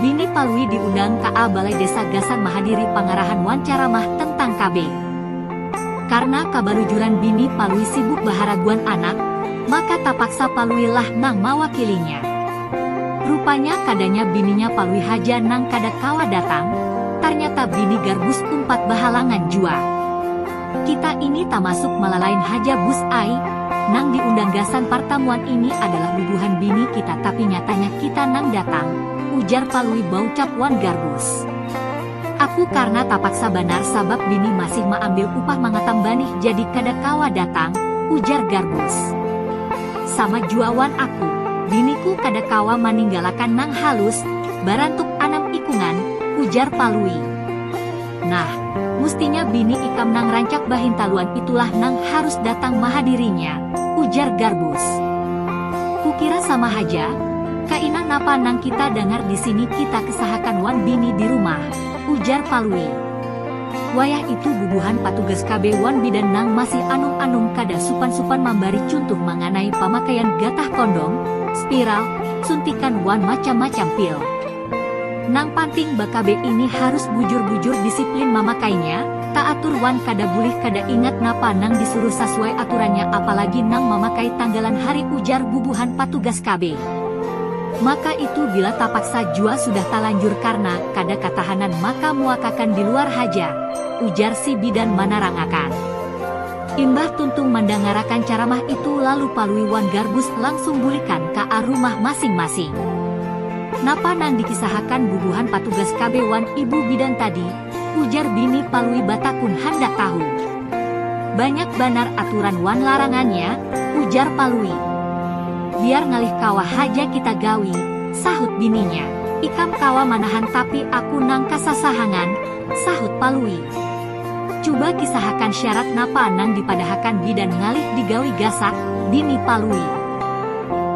Nini Palui diundang ka a Balai Desa gasan mahadiri pangarahan wan caramah tentang KB. Karna kabalujuran bini Palui sibuk baharaguan anak, maka tapaksa Palui lah nang mawakilinya. Rupanya kadanya bininya Palui haja nang kada kawa datang, tarnyata bini Garbus umpat bahalangan jua. Kita ini tamasuk malalain haja Bus ai, nang diundang gasan partamuan ini adalah bubuhan bini kita tapi nyatanya kita nang datang, ujar Palui baucap wan Garbus. Aku karna tapaksa banar sabab bini masih maambil upah mangatam banih jadi kada kawa datang, ujar Garbus. Sama jua wan aku, biniku kada kawa maninggalakan nang halus, barantuk anam ikungan, ujar Palui. Nah, mustinya bini ikam nang rancak bahintaluan itulah nang harus datang mahadirinya, ujar Garbus. Kukira sama haja? Kaina napa nang kita dangar di sini kita kesahakan wan bini di rumah, ujar Palui. Wayah itu bubuhan patugas KB wan bidan nang masih anum-anum kada supan-supan mambari cuntuh manganai pamakaian gatah kondom, spiral, suntikan wan macam-macam pil. Nang panting ba KB ini harus bujur-bujur disiplin mamakainya, Taatur wan kada bulih kada ingat napa nang disuruh sasuai aturannya apalagi nang mamakai tanggalan hari ujar bubuhan patugas KB. Maka itu bila tapaksa jua sudah talanjur karna kada katahanan maka muakakan di luar haja, ujar si bidan manarangakan. Imbah tuntung mandangarakan caramah itu lalu Palui wan Garbus langsung bulikan ka a rumah masing-masing. Napa nang dikisahakan bubuhan patugas KB wan ibu bidan tadi, Ujar bini Palui batakun handak tahu. Banyak banar aturan wan larangannya, ujar Palui. Biar ngalih kawa haja kita gawi, sahut bininya. Ikam kawa manahan tapi aku nang kasasahangan, sahut Palui. Cuba kisahakan syarat napa nang dipadahakan bidan ngalih digawi gasak, bini Palui.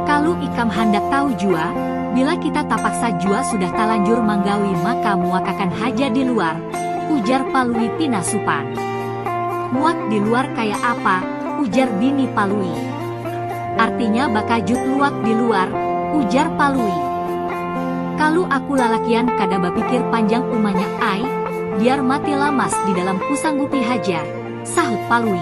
Kalu ikam handak tahu jua, bila kita tapaksa jua sudah talanjur manggawi maka muakakan haja di luar, ujar Palui pina supan. Muak di luar kaya apa, ujar bini Palui. Artinya bakajut luak di luar, ujar Palui. Kalu aku lalakian kada bapikir panjang umanya ai, biar mati lamas di dalam kusanggupi haja, sahut Palui.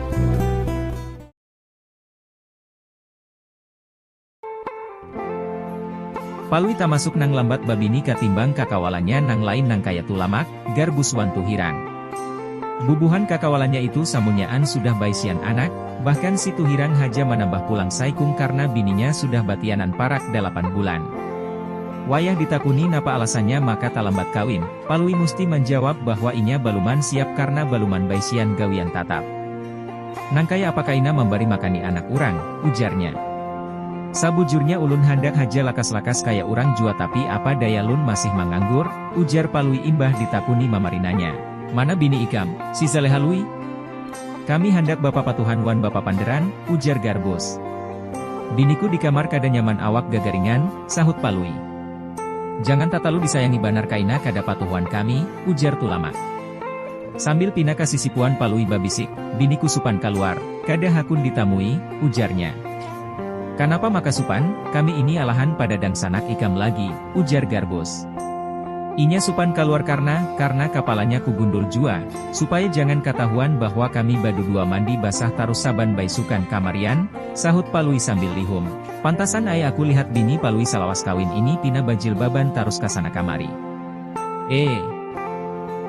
Palui tamasuk nang lambat babini katimbang kakawalannya nang lain nang kaya Tulamak, Garbus wan Tuhirang. Bubuhan kakawalannya itu samunyaan sudah baisian anak, bahkan si Tuhirang haja manambah pulang saikung karna bininya sudah batianan parak dalapan bulan. Wayah ditakuni napa alasannya maka talambat kawin, Palui musti manjawab bahwa inya baluman siap karna baluman baisian gawian tatap. Nangkaya apa kaina mambari makani anak urang, ujarnya. Sabujurnya ulun handak haja lakas-lakas kaya urang jua tapi apa daya lun masih manganggur, ujar Palui imbah ditakuni mamarinanya. Mana bini ikam, si Zaleha Lui? Kami handak bapapatuhan wan bapapanderan, ujar Garbus. Biniku di kamar kada nyaman awak gagaringan, sahut Palui. Jangan tatalu disayangi banar kaina kada patuh wan kami, ujar Tulamak. Sambil pina ka sisipuan Palui babisik, biniku supan kaluar, kada hakun ditamui, ujarnya. Kanapa maka supan, kami ini alahan pada dangsanak ikam lagi, ujar Garbus. Inya supan kaluar karna, karna kapalanya kugundul jua, supaya jangan katahuan bahwa kami badudua mandi basah tarus saban baisukan kamarian, sahut Palui sambil lihum. Pantasan ai aku lihat bini Palui salawas kawin ini pina bajilbaban tarus kasana kamari. Eee.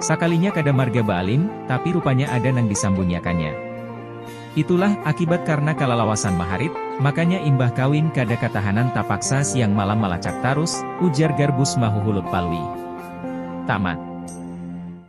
Sakalinya kada marga baalim, tapi rupanya ada nang disambunyakannya. Itulah, akibat karna kalalawasan maharit, makanya imbah kawin kada katahanan tapaksa siang malam malacak tarus, ujar Garbus mahuhulut Palui. Tamat.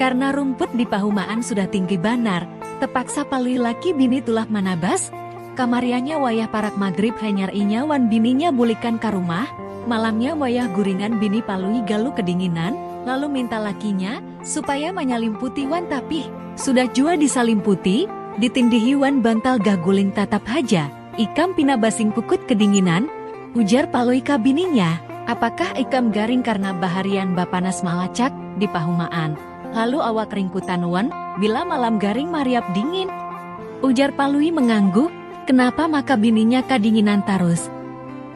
Karna rumput di pahumaan sudah tinggi banar, tepaksa palui laki bini tulak manabas, kamariannya wayah parak magrib hanyar inya wan bininya bulikan ka rumah, malamnya wayah guringan bini palui galu kedinginan, lalu minta lakinya, supaya manyalimputi wan tapih. Sudah jua disalimputi, ditindihi wan bantal gaguling tatap haja. Ikam pina basingkukut kedinginan? ujar Palui ka bininya. Apakah ikam garing karna baharian bapanas malacak di pahumaan, lalu awak ringkutan wan bila malam garing mariap dingin? ujar Palui mengangguk, kenapa maka bininya kadinginan tarus.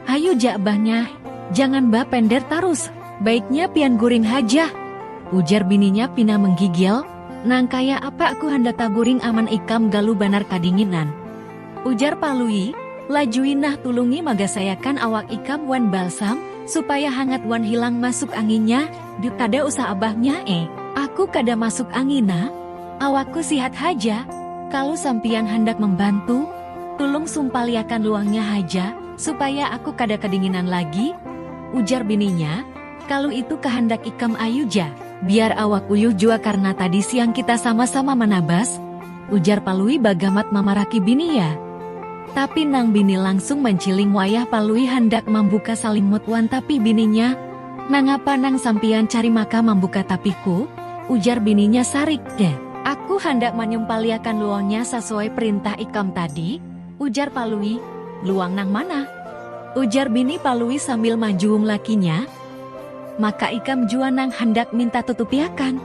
Hayu ja bah Nyah, jangan ba pender tarus, baiknya pian guring haja, ujar bininya pina menggigil, nang kaya apa aku handak taguring aman ikam galu banar kadinginan. Ujar Palui, Lajui nah tulungi magasayakan awak ikam wan balsam, supaya hangat wan hilang masuk anginnya, duk kada usah abahnya eh. Aku kada masuk angin nah, awakku sihat haja, kalu sampiyan handak mambantu, tulung sumpaliakan luangnya haja, supaya aku kada kadinginan lagi, ujar bininya. Kalu itu kahandak ikam ayu ja, biar awak uyuh jua karna tadi siang kita sama-sama manabas, ujar Palui bagamat mamaraki bini ya. Tapi nang bini langsung manciling wayah Palui handak mambuka salimut wan tapih bininya, Nangapa nang sampiyan cari maka mambuka tapihku? ujar bininya sarik. Aku handak manyumpaliakan luonya sasuai perintah ikam tadi. Ujar Palui, Luang nang mana? Ujar bini Palui sambil manjuung lakinya, Maka ikam jua nang handak minta tutupiakan?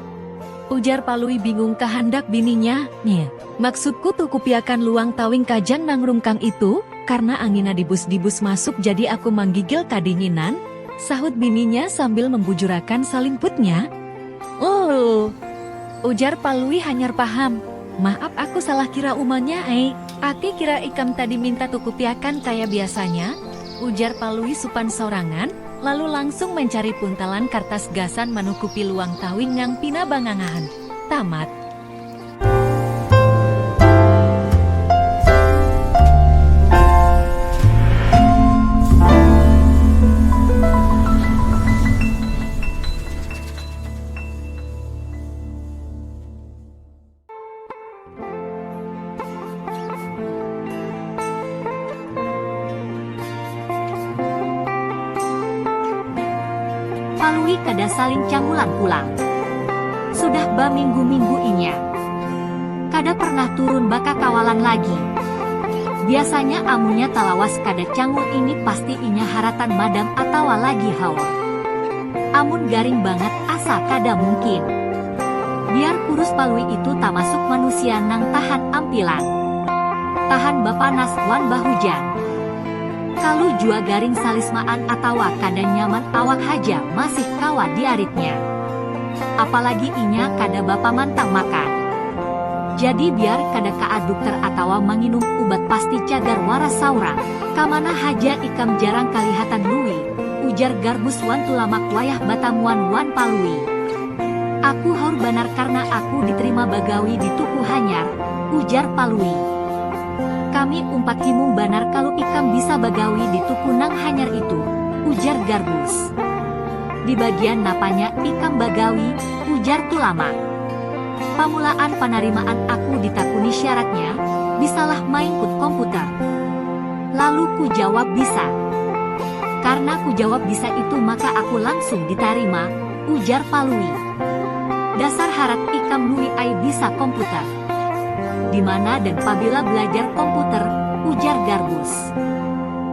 Ujar Palui bingung kahandak bininya, Nya. Maksudku tukupiakan luang tawing kajang nang rungkang itu, karna angina dibus-dibus masuk jadi aku manggigil kadinginan, sahut bininya sambil membujurakan salimputnya. Uuuh. Ujar Palui hanyar paham, Maap aku salah kira umanya ai. Ati kira ikam tadi minta kukupiakan kaya biasanya? ujar Palui supan sorangan, lalu langsung mancari puntalan kartas gasan manukupi luang tawing nang pina bangangahan. Tamat. Palui kada saling cangulan pulang. Sudah baminggu-minggu inya kada pernah turun bakakawalan lagi. Biasanya amunnya talawas kada cangul ini pasti inya haratan madam atawa lagi haur. Amun garing bangat asa kada mungkin. Biar kurus Palui itu tamasuk manusia nang tahan ampilan. Tahan bapanas wan bahujan. Kalu jua garing salismaan atawa kada nyaman awak haja masih kawa diaritnya. Apalagi inya kada bapamantang makan. Jadi biar kada kaa dukter atawa manginum ubat pasti cagar waras saurang. Kamana haja ikam jarang kalihatan Lui? Ujar Garbus wan Tulamak wayah batamuan wan Palui. Aku haur banar karna aku diterima bagawi di tuku hanyar, ujar Palui. Kami umpat himung banar kalu ikam bisa bagawi di tuku nang hanyar itu, ujar Garbus. Di bagian napanya ikam bagawi? ujar Tulamak. Pamulaan panarimaan aku ditakuni syaratnya, bisalah maingkut komputer. Lalu ku jawab bisa. Karna ku jawab bisa itu maka aku langsung ditarima, ujar Palui. Dasar harat ikam Lui ai bisa komputer. Dimana dan pabila belajar komputer, ujar Garbus.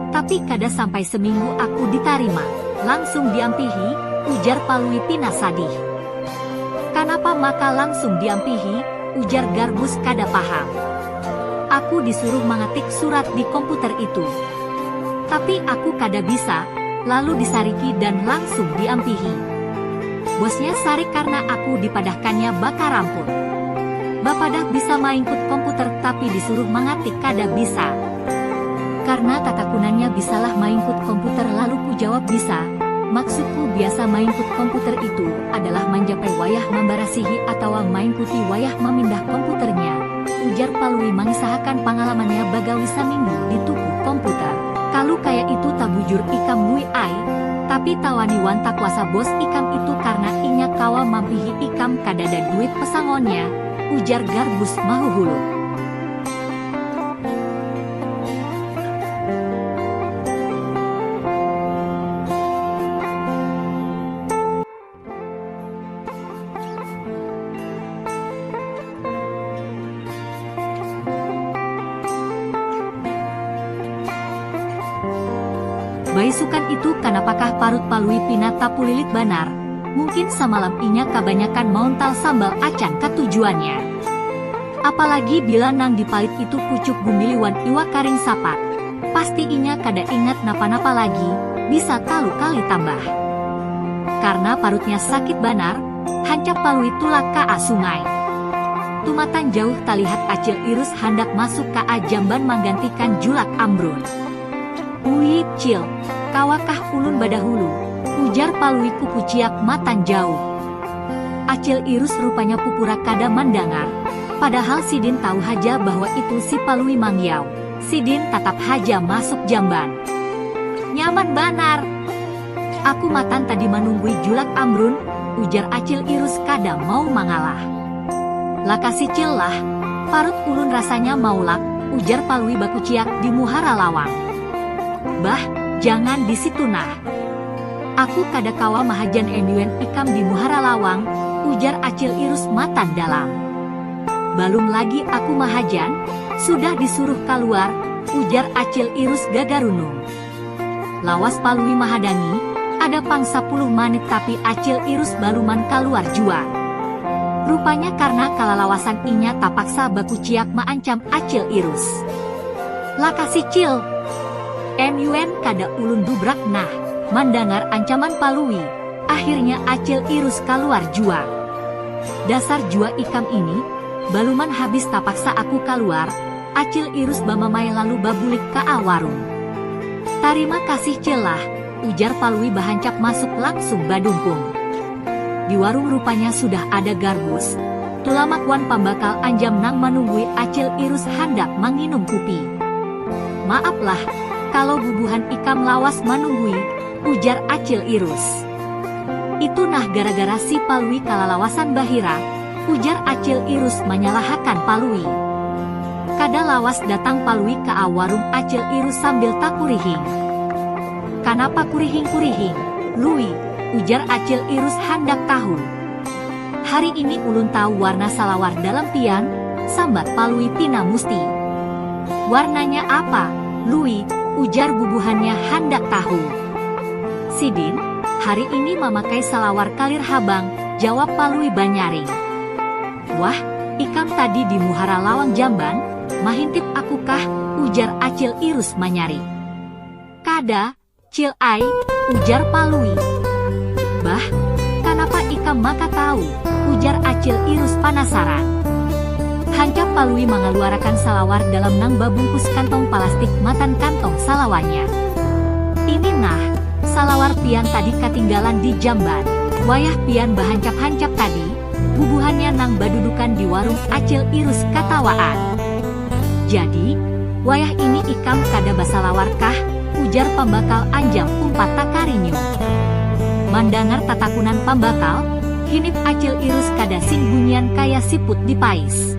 Tapi kada sampai seminggu aku ditarima, langsung diampihi, ujar Palui pina sadih. Kanapa maka langsung diampihi, ujar Garbus kada paham. Aku disuruh mangetik surat di komputer itu. Tapi aku kada bisa, lalu disariki dan langsung diampihi. Bosnya sarik karna aku dipadahkannya baka ramput. Bapadah bisa maingkut komputer tapi disuruh mangatik kada bisa. Karna tatakunannya bisalah maingkut komputer lalu kujawab bisa, maksudku biasa maingkut komputer itu adalah manjapai wayah mambarasihi atawa maingkuti wayah mamindah komputernya. Ujar Palui mangisahakan pangalamannya bagawi saminggu di tuku komputer. Kalu kaya itu tabujur ikam Lui ai, tapi tawani wan takuasa bos ikam itu karna inya kawa mampihi ikam kadada duit pesangonnya, ujar Garbus mahuhuluk. Baisukan itu kanapakah parut Palui pina tapulilit banar, mungkin samalam inya kabanyakan mauntal sambal acan katujuannya. Apalagi bila nang dipalit itu pucuk gumbili wan iwak karing sapat. pasti inya kada ingat napa-napa lagi bisa talu kali tambah. Karna parutnya sakit banar, hancap Palui tulak ka a sungai. Tumatan jauh talihat Acil Irus handak masuk ka a jamban manggantikan julak Ambrun. Ui, Cil, kawa kah ulun badahulu? ujar Palui kukuciak matan jauh. Acil Irus rupanya pupura kada mandangar, padahal sidin tahu haja bahwa itu si Palui Mangyau. Sidin tatap haja masuk jamban. Nyaman banar! Aku matan tadi manunggui julak Amrun, ujar Acil Irus kada mau mangalah. Lakasi Cil lah, parut ulun rasanya maulak, ujar Palui bakuciak di muhara lawang. Bah, jangan di situ nah. Aku kada kawa mahajan MUN ikam di muhara lawang, ujar Acil Irus matan dalam. Balum lagi aku mahajan, sudah disuruh kaluar, ujar Acil Irus gagarunung. Lawas Palui mahadangi, ada pang sapuluh manit tapi Acil Irus baluman kaluar jua. Rupanya karna kalalawasan inya tapaksa bakuciak maancam Acil Irus. Lakasi Cil! MUN kada ulun dubrak nah! Mandangar ancaman Palui, Akhirnya Acil Irus kaluar jua. Dasar jua ikam ini, baluman habis tapaksa aku kaluar, Acil Irus bamamai lalu babulik kaa warung. Tarima kasih Cil lah, ujar Palui bahancap masuk langsung badungkung. Di warung rupanya sudah ada Garbus, Tulamak wan pambakal Anjam nang manunggui Acil Irus handak manginum kupi. Maap lah, kalo bubuhan ikam lawas manunggui, Ujar Acil Irus. Itu nah gara-gara si Palui kalalawasan bahira, ujar Acil Irus manyalahakan Palui. Kada lawas datang Palui ka awarung Acil Irus sambil takurihing. Kanapa kurihing-kurihing, Lui? ujar Acil Irus handak tahu. Hari ini ulun tahu warna salawar dalam pian, sambat Palui pina musti. Warnanya apa, Lui? ujar bubuhannya handak tahu. Sidin, hari ini mamakai salawar kalir habang, jawab Palui banyaring. Wah, ikam tadi di muhara lawang jamban, mahintip aku kah, ujar Acil Irus manyarik. Kada, Cil ai, ujar Palui. Bah, kanapa ikam maka tahu? ujar Acil Irus panasaran. Hancap Palui mangaluarakan salawar dalam nang babungkus kantong palastik matan kantong salawarnya. Ini nah, salawar pian tadi katinggalan di jamban, wayah pian bahancap-hancap tadi, bubuhannya nang badudukan di warung Acil Irus katawaan. Jadi, wayah ini ikam kada basalawar kah? ujar Pambakal Anjam umpat takarinyum. Mandangar tatakunan Pambakal, hinip Acil Irus kada sing bunyian kaya siput di pais.